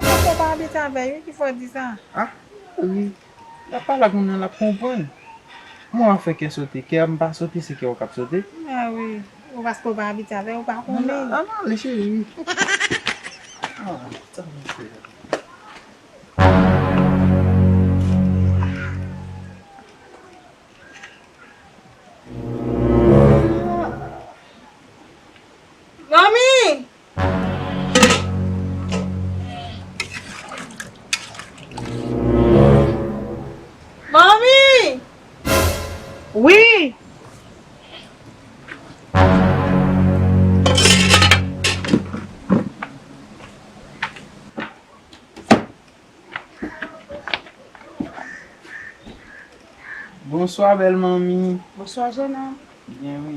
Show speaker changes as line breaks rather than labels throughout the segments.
Ou gen pou w pa abite
avè l wi ki fè w di sa. A wi
lap pale ak moun nan lap konprann Mwen wap fè kè sote kè m pa sote se kè w kap sote. A wi
ou paske w pa abite avè l ou pa konnen l. An ale cheri wi.
An sa mwen
fè a. Manmi!
Bonswa bèl manmi. Bonswa jènòm.
Byen wi.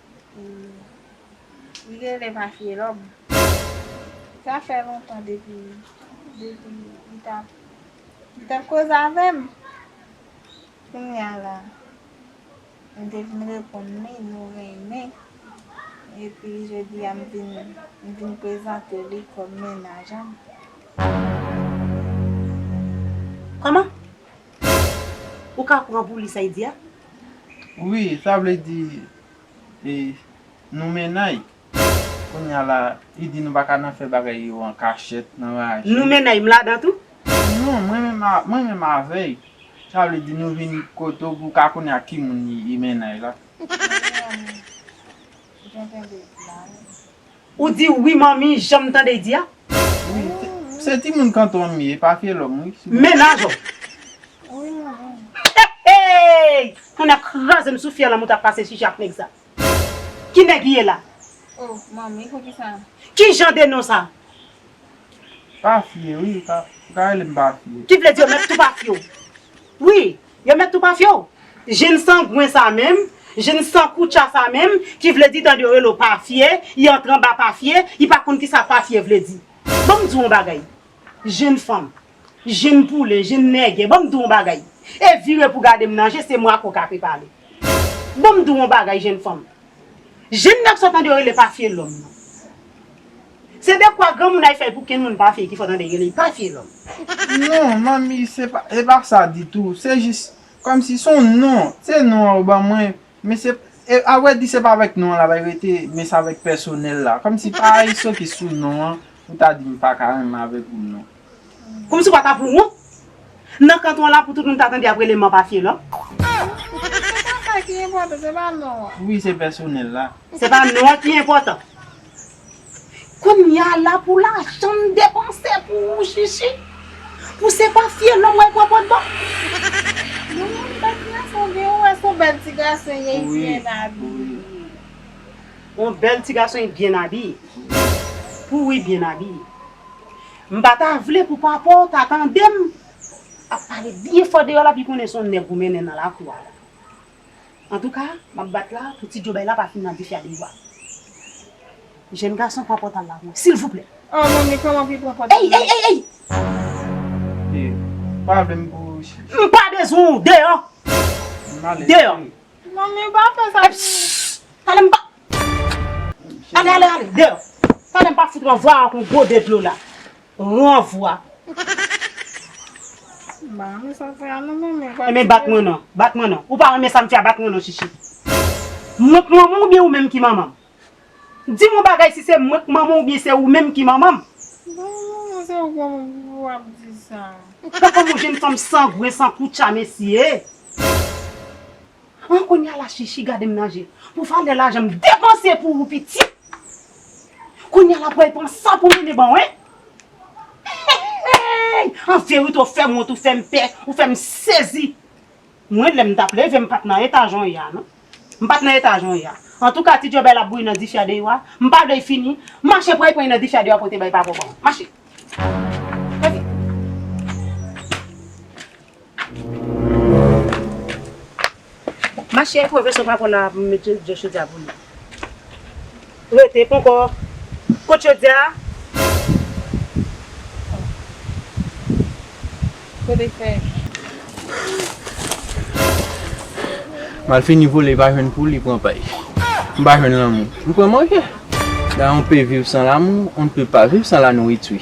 Li genlè pa fye lòm. Sa fè lontan depi li tap li tap koze avèm. Kounya la m te vin reponn li nou renmen epi jodi a m vin prezante li kòm menaj an.
Kòman? Ou ka pran pou li sa y di a? Wi,
sa vle di e nou mennay. Kounye a la, li di nou pa ka nan fè bagay yo an kachèt, nan raje. Nou mennay,
m ladan tou? Non, mwen menm
a, mwen menm avè y. Sa vle di nou vin kote w pou w ka konnen ak ki moun li mennay la. Mwen menm, ou gen tande blan wi.
Ou di wi manmi janm tande di a. Wi
se timoun kanton m ye pa fye lòm wi. Mennaj ou.
Eeyy
tonnè kraze m sou fyè lanmou tap pase chichi ak nèg sa. Ki nèg li ye la. Oh manmi
poukisa. Ki jan de non sa.
Pa fye wi ou ka rele m pa fye. Ki vle di yo mèt tou pa fye
w wi. Yo met tou pa fye w. Jén sangwen sa menm, jén san koutcha sa menm, ki vle di tande yo rele w pa fye, y antre anba pa fye, y pa konn kisa pa fye vle di. Ban m di w yon bagay, jén fanm, jén poule, jén nègè, ban m di w yon bagay, e vire pou gade m nan je, se mwa ko ka pe pale. Ban m di w yon bagay, jén fanm, Jenn nèg sa tande yo rele papye lòm nan. Se dekwa granmounay fèy pou kenn moun pa fye ki fè w tande yo rele li papye lòm. Non
manmi se pa e pa sa ditou se jis kòmsi son non se non an ou ban mwen men se e a vrè di se pa avèk non an la bay rete men se avèk pèsonèl la kòmsi pa iso ki sou non an ou ta di m pa ka renmen avèk ou non. Kòmsi w pa ta
pou wont? Nan kanton la pou tout moun ta tande ap rele manpa fye lò. Se
pa sa ki enpòtan, se pa non an. Wi se pèsonèl
la. Se pa non an ki
enpòtan. Kounya la pou lajan m depanse pou ou Shishi, pou se pa fye lò mwen pran pot ban. Bon moun bèt m nan son gen ou wè
son bèl ti gason y e byen
abiye. On bèl ti gason y byen abiye. Pou ou y byen abiye. M pa ta vle pou papa w ta tande m ap pale byen fò deyò la pi konnen s on nèg ou mennen nan lakou a la. Antouka, m ap bat la pou ti djobèy la pa fin nan dife a deyò a. Jèn gason pran pòtal la pou mwen, silvouplè! An manmi, kòman pou l
pran pòtal la? Ey! Ey! Ey! Ey! E,
ou
pa vle m pou ou chè? M pa bezwen ou!
Deyò! M ale! Deyò! Manmi, ou
pa fè sa pou mwen! Epss! Tande m pa
Ale ale ale deyo. Tande m pa fout ranvwa ak yon gwo de dlo la. Ranvwa.
Ba men sa fè a non manmi. E men bat mwen non. Bat
mwen non. Ou pa renmen sa m fè a bat mwen non chichi. Mwen k manman w oubyen ou menm ki manman m? Di m yon bagay si se mwen k manman w oubyen se ou menm ki manman m? Ba men
manman se ou k manman m pou w ap di sa. Gad kòman yon jenn
fanm sangwen san koutcha mesye. An konya la Shishi gadem nan je pou valè lajan m depanse pou ou pitit Konya la pwèy pran sa pou Nene baw hein Hehehey an verite ou fèm wont ou fèm pè ou fèm sezi Mwen lèm tap leve m pat nan eta jan w ye a non M pat nan eta jan w ye a Antouka ti djòbèy la bouyi nan dife a de yo a M pa vle l fini Mache pwèy pwèy nan dife a de yo a pou w te bay papa w banm Mache Mache Mache e pwofesè pa konn la pou mete je chodi a pou li. Rete ponkò kot chodi a. Kote
fèy.
Malfini vole li pa jwenn poul li pran pay. M pa jwenn lanmou. M pran manje. Nan yon pe viv san lamou on ne peut pas viv san la nourriture.